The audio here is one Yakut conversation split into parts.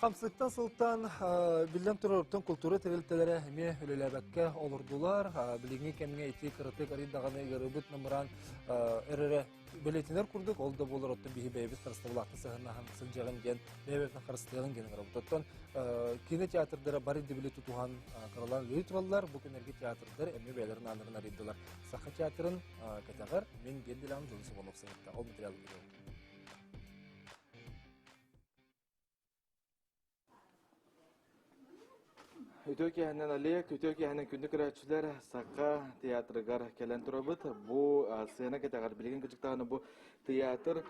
Хамсыктан сылтаан биллэн тураруттан култуура тэрилтэлэрэ эмиэ үлэлээбэккэ олордулар. Билиҥҥи кэмҥэ ити кыратык арыый даҕаны ыарыыбыт намыраан эрэрэ бэлиэтэнэр курдук, ол да буолар оттон биһи бэйэбит харыстабылаахтык сыһыаннаһан сылдьаҕын диэн бэйэбитин харыстыаҕын диэн ыҥырабыт. Оттон кинотеатрдара бары дэбили тутуһан кыралаан ыйытылаллар. Бу күннэргэ театрдар эмиэ бэйэлэрин ааннарын арыйдылар. Саха театрын Кэтэҕэр мин биир билэҕим дьон собон охсуһарда, ол материалым бирэ Үтүө киэһэнэн Олег, үтүө киэһэнэн күндү көрөөччүлэр, Саха театрыгар кэлэн турабыт. Бу сцена кэтэҕэр билигин кырдьыктаҕына бу театр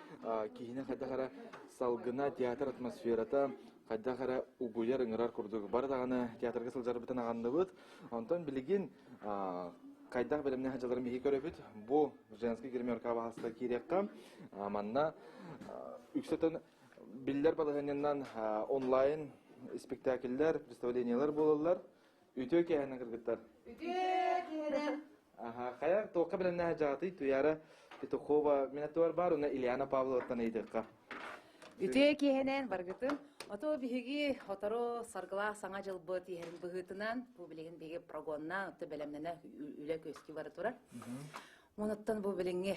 киһини хайдах эрэ салгына, театр атмосферата хайдах эрэ угуйар, ыҥырар курдук. Бары даҕаны театрга сылдьарбытын аҕынныбыт. Онтон билигин хайдах бэлэмнэ сылдьалларын биһиги көрөбүт. Бу женский гримерка баһаста киириэххэ. Манна үксэтин биллэр балаһынньаннан онлайн спектакльлэр, представлениелар буолаллар. Үтүө кээһинэн кыргыттар. Үтүө кээһинэн. Аха, хайа, туохха бэлэмнэ сыдьаатый? Туяра Петухова, минатуар бар, уна Ильяна Павловаттан ыйдыққа. Үтүө киэһэнэн баргытын! Ото биһиги сотору Саргылаах Саҥа дьылбыт иһэрин быһыытынан бу билигин биһиги прогонна оту бэлэмнэнэ үлэ күөскүү бара турар. Онуттан бу билиҥҥи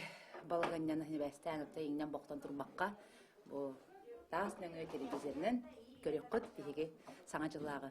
балаҕанньаны ньибээстээн оту иҥнэн бохтон турбакка бу таас нөҥүө телевизорынан көрүөххүт биһиги Саҥа дьыллааҕы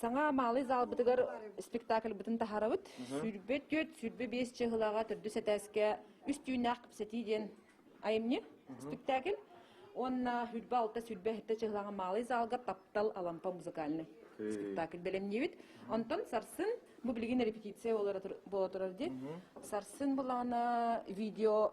Саҥа Маалый заалбытыгар спектакльбытын таһарабыт. Сүүрбэ түөрт, сүүрбэ биэс чыһылаҕа төрдүс этээскэ үс түүннээх кэпсэтии диэн айымньы спектакль. Уонна үрбэ алта, сүүрбэ эһитэ чыһылаҕа Маалый заалга таптал Алампа музыкальный спектакль бэлэмниибит. Онтон сарсын бу билигин репетиция буола турар диэн сарсын былаана видео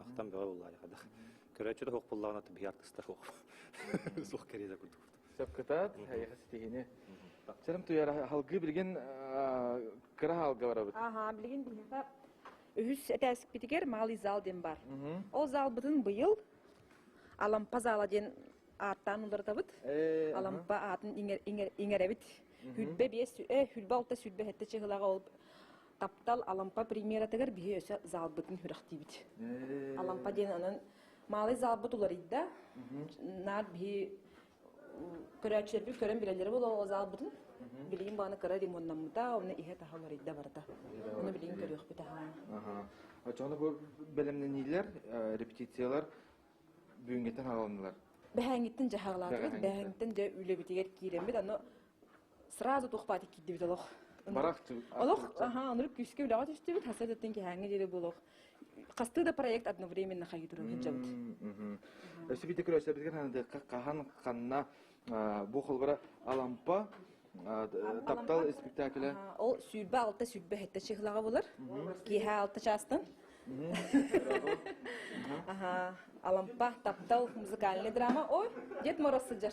Ахтан бөҕө буллаайха да. Көрөөччү да суох буллаҕына биһи артыста суох. Суох кэриэтэ курдук. Сөпкытаат, хайыха ситиһини. Сэрим туйара халгыы билигин кыра хаалга барабыт. Аха, билигин биһиэхэ үһүс этээспитигэр малый зал диэн бар. Ол залбытын быйыл Алампа зала диэн ааттаан уларытабыт. Алампа аатын иҥэрэбит. Хүлбэ биэс, хүлбэ алта сүлбэ хэтте чыһылаҕа ол таптал Алампа премьератыгар биһи өсө заалбытын хүрэхтиибит. Алампа диэн анан маалай заалбыт уларыйда. Наар биһи көрөөччүлэрбит көрөн билэллэрэ буолуо заалбытын. Билигин бааны кыра ремонтнаммыта, оны иһэ таһа уларыйда барыта. Оны билигин көрүөхпүт аhaa. Очоно бу бэлэмнениилер, репетициялар бүгүнгеттен хаалынылар. Бэһэнгиттен жахалаатыбыт, бэһэнгиттен де үлэбитигер киирембит, аны сразу тухпаат иккиддибит олох барах олох аха ону күүскэ үлэҕэ түстүбүт хасыдаттан киһээҥҥэ диэри буолуох хастыы да проект одновременно хайыы туран сылдьабыт өсүбүтэ көрөөсөбүтгин хандыакка хаһан ханна бу холбора алампа таптал спектакле ол сүүрбэ алта сүүрбэ хетте чыһылаҕа булар киэһэ алта чаастан аха алампа таптал музыкальный драма ой дед мороз сыдьар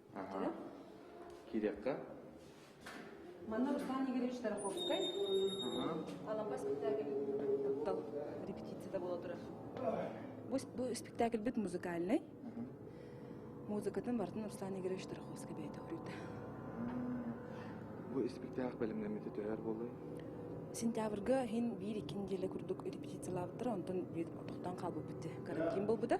Ага. Кирякка. Манна Руслан Игоревич Тараховскай. Алампа спектакль. Репетицията була турар. Бу, бу спектакльбит музыкальный. Музыкатын бартын Руслан Игоревич Тараховский бейте хүрүйді. Бу спектакль бәлемнемете төһөр болой? Сентябрьга хин бир-иккин деле курдук репетициялаабыттар, онтон бит тоқтан қалбы бітті. Карантин болбыда.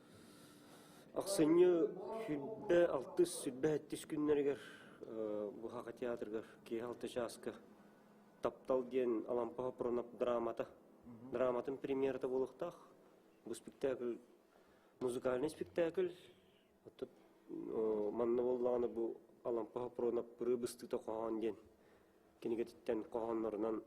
Ахсынньы сүүрбэ-алтыс, сүүрбэ-сэттис күннэригэр Быһаҕа театрыгар киэһэ алта чааска «Таптал» диэн Алампа Хопронов драмата, драматын премьерата буолуохтаах. Бу спектакль музыкальный спектакль. Оттон манна буоллаҕына бу Алампа Хопронов «Рыбыстыта» хоһоон диэн кинигэтиттэн хоһооннорунан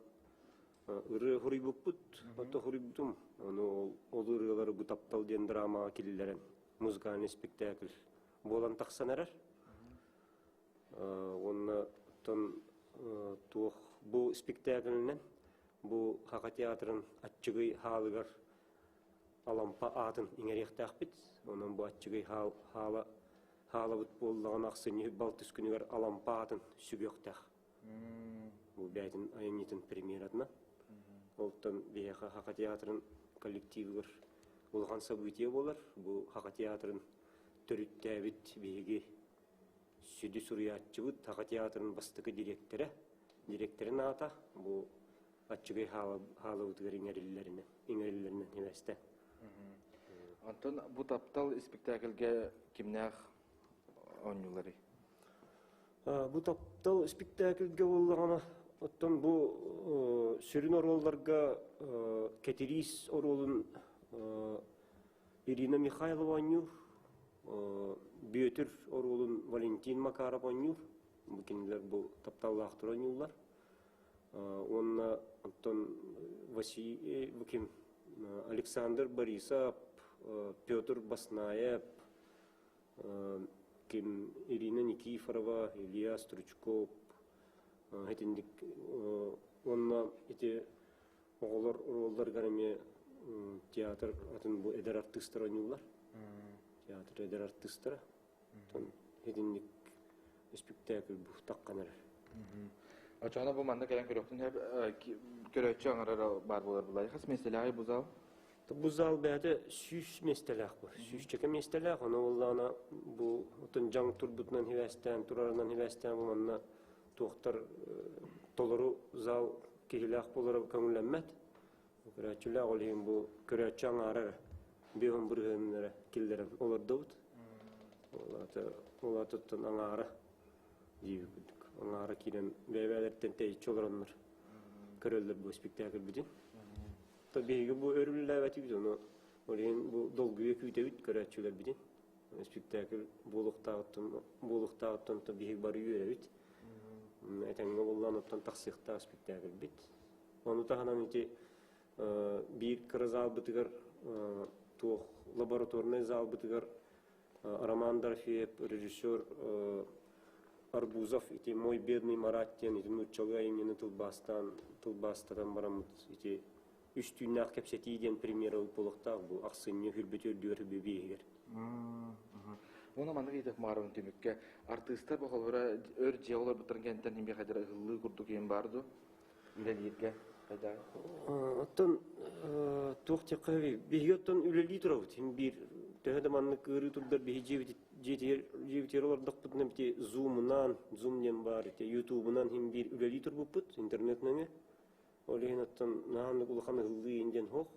Ырыа хоруйбуппут, ото хоруйбутум. Ону ол, ол ырыалары бу таптал диэн драмаҕа киллэрэн музыкальный спектакль буолан тахсан эрэр. Уонна оттон туох бу спектакльынан бу Хака театрын аччыгый хаалыгар Алампа аатын иҥэриэхтээхпит. Онон бу аччыгый хаал хаала хаалабыт буоллаҕына ахсынньы балтыс күнүгэр Алампа аатын сүгүөхтээх. бээтин айанньытын премьератына Олтон биһиэхэ Хака театрын коллективыгар улахан событие буолар. Бу Хака театрын төрүттээбит биһиги сүдү суруйааччыбыт, Хака театрын бастакы директора, директорын аата бу аччыгай хаалабытыгар иҥэриллэринэн иҥэриллэринэн химэстэ. Онтон бу таптал испектакльгэ кимнээх оонньуулары? Бу таптал испиктээкилгэ буоллаҕына, оттон бу сүрүн оруолларга Кэтириис оруолун Ирина Михайлова оонньуур, Бүөтүр оруолун Валентин Макаров оонньуур. Бу кинилэр бу тапталлаахтар оонньууллар. Уонна оттон Василий, бу ким, Александр Борисов, Петр Баснаев, ким Ирина Никифорова, Илья Стручков итинник уонна ити оҕолор ролларыгар эмиэ театр атын бу эдэр артыыстар ойууллар. Театр эдэр артыыстара. Итинник спектакль бухтаккан эрэр. Очоно бу манна кэлэн көрөхтүн көрөөччү аңарар баар болар булайхас меселаай бузал Бу зал бэйэтэ сүүс миэстэлээх бу. Сүүсчэкэ миэстэлээх. Ону уоллаана бу отон дьаҥ турбутунан хибээстээн, турарынан хибээстээн буланна туохтар толору зал киһилээх болора көҥүллэммэт. Көрөөччүлээх ол иһин бу көрөөччү аҥаарар беон бырыһыыннара киллэрэн олордубут. Олатыттан аҥаара дии курдук. Аҥаара киирэн бэйбээлэртэн тэйиччи олороннор көрөллөр бу спектакль бүтүн. биһиги бу өрүллээбэтибит, ону олейин бу долгуйа күүтэбит көрөөччүлэрбитин. Спектакль буолуохтааҕыттан то биһиги бары үөрэбит. Этэҥҥэ боллаан оттон тахсыахтаах спектакльбит. Ону таһынан ити биир кыра заалбытыгар туох лабораторнай заалбытыгар Роман Дорфеев, режиссер Арбузов ити «Мой бедный Марат» диэн ити нууччалыы айымньыны тылбаастаан тылбаастатан бараммыт ити үс түүннээх кэпсэтии диэн премьера буолуохтаах бу ахсынньы үрбүтү үрдүгэр бүбиэһигэр. Уну маннык идэх маарын түмүккэ артыыстар бохолоро өр дьиэ олорбуттарын кэнтэн химиэхадера ыһыллыы курдук иһин баар дуо? үлэлииргэ хайдах оттон туох тиэххэ биһиги оттон үлэлии турабыт син биир төһө да маннык ыарыы турдар биһи дьиэбитигэр олордохпутуна ити зумунан зум диэн баар ити ютубунан син биир үлэлии турбуппут интернет нөҥө ол иһин оттон наһаннык улахан ыллыы диэн хох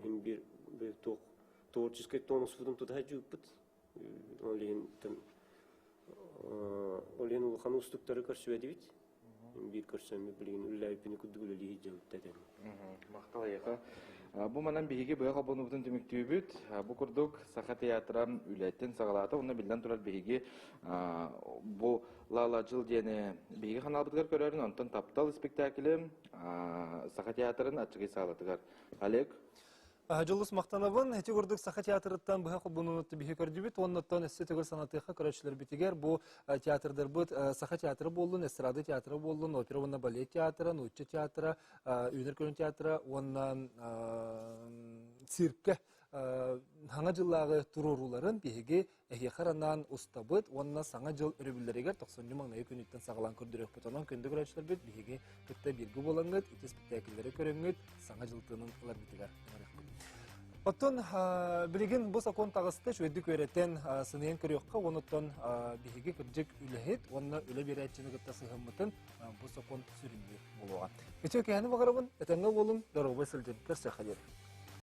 син биир туох творческай тонуспутун тутаһа жууппут Ол иһин ол иһин улахан уустуктары көрсүбэтибит. Биир көрсөммү билигин үллээбиппини курдук үлэлии дьабытта этем. Махтал айака. Бу манан биһиги быйа хобонубутун түмүктүүбүт. Бу курдук Саха театран үлэттен сагалата уна биллен турар биһиги бу Лала жыл диэни биһиги ханалбытыгар көрөрүн онтон таптал спектаклем Саха театрын аччыгый саалатыгар. Олег Дьылыс махтанабын. Ити курдук Саха театрыттан быһа холбонууну биһи көрдүбүт уонна оттон өссө төгүл санатыахха көрөөччүлэрбитигэр бу театрдарбыт Саха театра буоллун, эстрада театра буоллун, опера уонна балет театра, нуучча театра, үүнэр көрүн театра уонна циркэ Саҥа дьыллааҕы туруорууларын биһиги Эһиэхэ анаан устабыт уонна Саҥа дьыл өрөбүллэригэр тохсунньу маҥнайы күнүттэн саҕалаан көрдөрүөхпүт. Онон күндү көрөөччүлэрбит биһиги кытта бииргэ буолаҥҥыт, ити испэктээкиллэри көрөҥҥүт, саҥа дьыл тыынын ыларгытыгар ыҥырыахпыт. Оттон билигин бу сокуон таҕыста үчүгэйдик үөрэтэн, сыныйан көрүөххэ уонуттан биһиги кырдьык үлэһит уонна үлэ биэрээччини кытта сыһыммытын бу сокуон сүрүннүүр буолуоҕа. Ичи киһини баҕарабын, этэҥҥэ уолум, доруобай сылдьын, көрсүөххэ диэри.